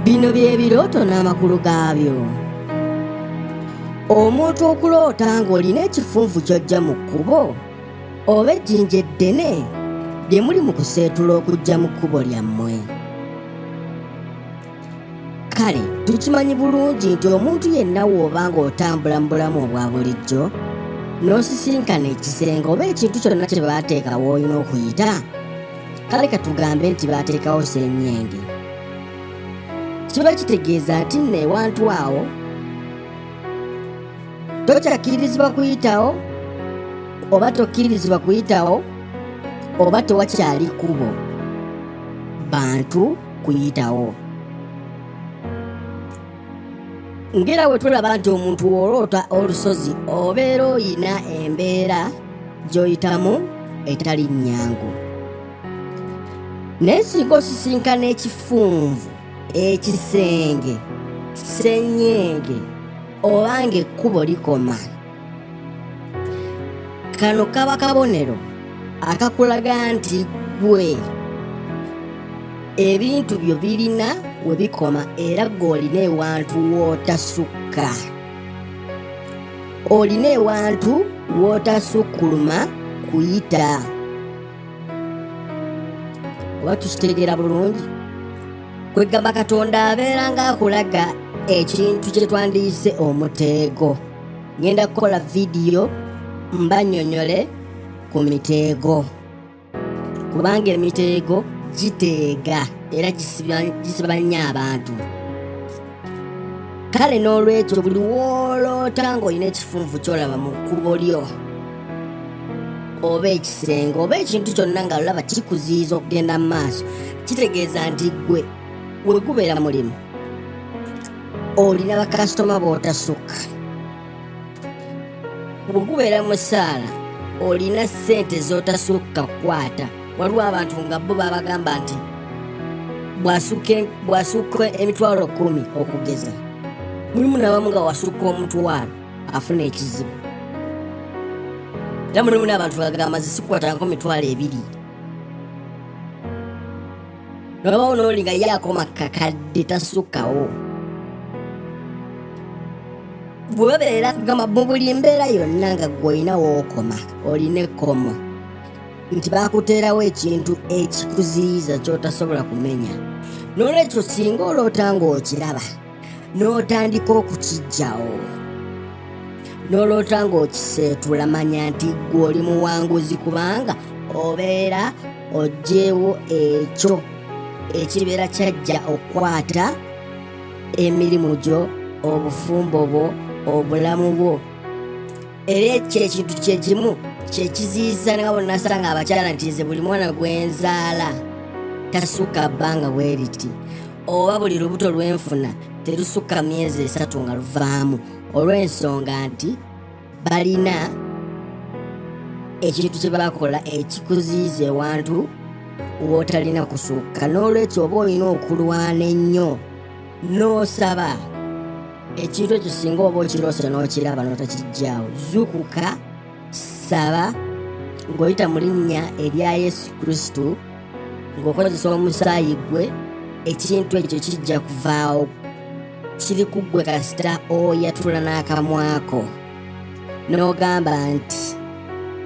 bino bye birooto n'amakulu gaabyo omuntu okuloota ng'olina ekifunvu ky'ojja mu kkubo oba ejjinja eddene lye muli mu kuseetula okujja mu kkubo lyammwe kale tukimanyi bulungi nti omuntu yenna wooba ng'otambula mu bulamu obwa bulijjo n'osisinkana ekisenge oba ekintu kyonna kye baateekawo olina okuyita kale katugambe nti baateekawo senyenge kiba kitegeeza nti nno ewantu awo tokyakkirizibwa kuyitawo oba tokkirizibwa kuyitawo oba tewakyali kubo bantu kuyitawo ngera we tulaba nti omuntu w'oloota olusozi obeera oyina embeera gy'oyitamu etali nnyangu naye singa osisinkana ekifunvu ekisenge ssenyenge oba ng'ekkubo likoma kano kaba kabonero akakulaga nti gwe ebintu byo birina we bikoma era gwe olina ewantu wootasukka olina ewantu wootasukkuluma kuyita oba tukitegeera bulungi kwegamba katonda abeera ng'akulaga ekintu kye twandiyise omuteego ngenda kukola vidiyo mbanyonyole ku miteego kubanga emiteego giteega era gisiba nnyo abantu kale n'olwekyo buli wooloota ng'olina ekifunvu kyolaba mu kkubo lyo oba ekisenge oba ekintu kyonna nga olaba kikuziyiza okugenda mu maaso kitegeeza nti ggwe we gubeera mulimu olina bakasitoma b'otasukka bwe gubeera mu ssaala olina ssente z'otasukka kukwata waliwo abantu nga bo babagamba nti bw'asukka emitwalo kumi okugeza mulimu nabamu nga wasukka omutwalo afuna ekizibu era mulimu n'abantu bagamba zisikwatangako mitwalo ebiri nolaba onooli nga ye akoma kakadde tasukkawo bwe babeera gamba mu buli mbeera yonna nga gwolina wookoma olina ekkomo nti baakuteerawo ekintu ekikuziyiza kyotasobola kumenya n'olwekyo singa oloota ng'okiraba n'otandika okukijjawo n'oloota ng'okiseetula manya nti ggwe oli muwanguzi kubanga obeera oggyewo ekyo ekibeera kyajja okukwata emirimu gyo obufumbo bwo obulamu bwo era ekyo ekintu kyekimu kyekiziyiza nga bonnasanga abakyala nti nze buli mwana gwenzaala tasukka bbanga bweriti oba buli lubuto lwenfuna terusukka myezi esatu nga luvaamu olw'ensonga nti balina ekintu kye bakola ekikuziiza ewantu w'otalina kusukka n'olwekyo oba olina okulwana ennyo n'osaba ekintu ekyo singa oba okiroose n'okiraba n'otakijjaawo zukuka saba ng'oyita mu linnya erya yesu kristo ng'okozesa omusaayi gwe ekintu ekyo kijja kuvaawo kiri ku ggwe kasita oyatula n'akamwako n'ogamba nti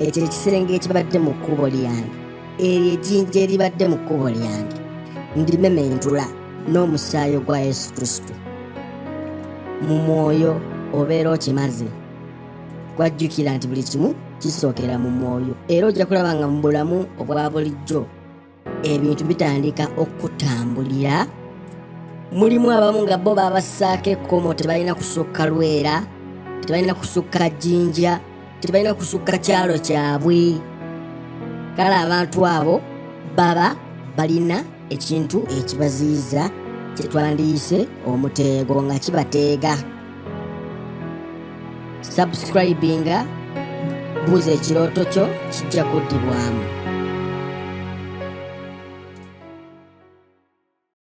ekyo ekisenge ekibadde mu kkubo lyange eryo ejjinja eribadde mu kkubo lyange ndimementula n'omusaayi ogwa yesu kristo mu mwoyo obeera okimaze gwajjukira nti buli kimu kisookera mu mwoyo era ojja kulaba nga mu bulamu obwa bulijjo ebintu bitandika okutambulira mulimu abamu nga bo babassaako ekkomo tebalina kusukka lwera tebalina kusukka jjinja tebalina kusukka kyalo kyabwe kale abantu abo baba balina ekintu ekibaziyiza kyetwandiyise omuteego nga kibateega subscribinga buuza ekirooto kyo kijja kuddibwamu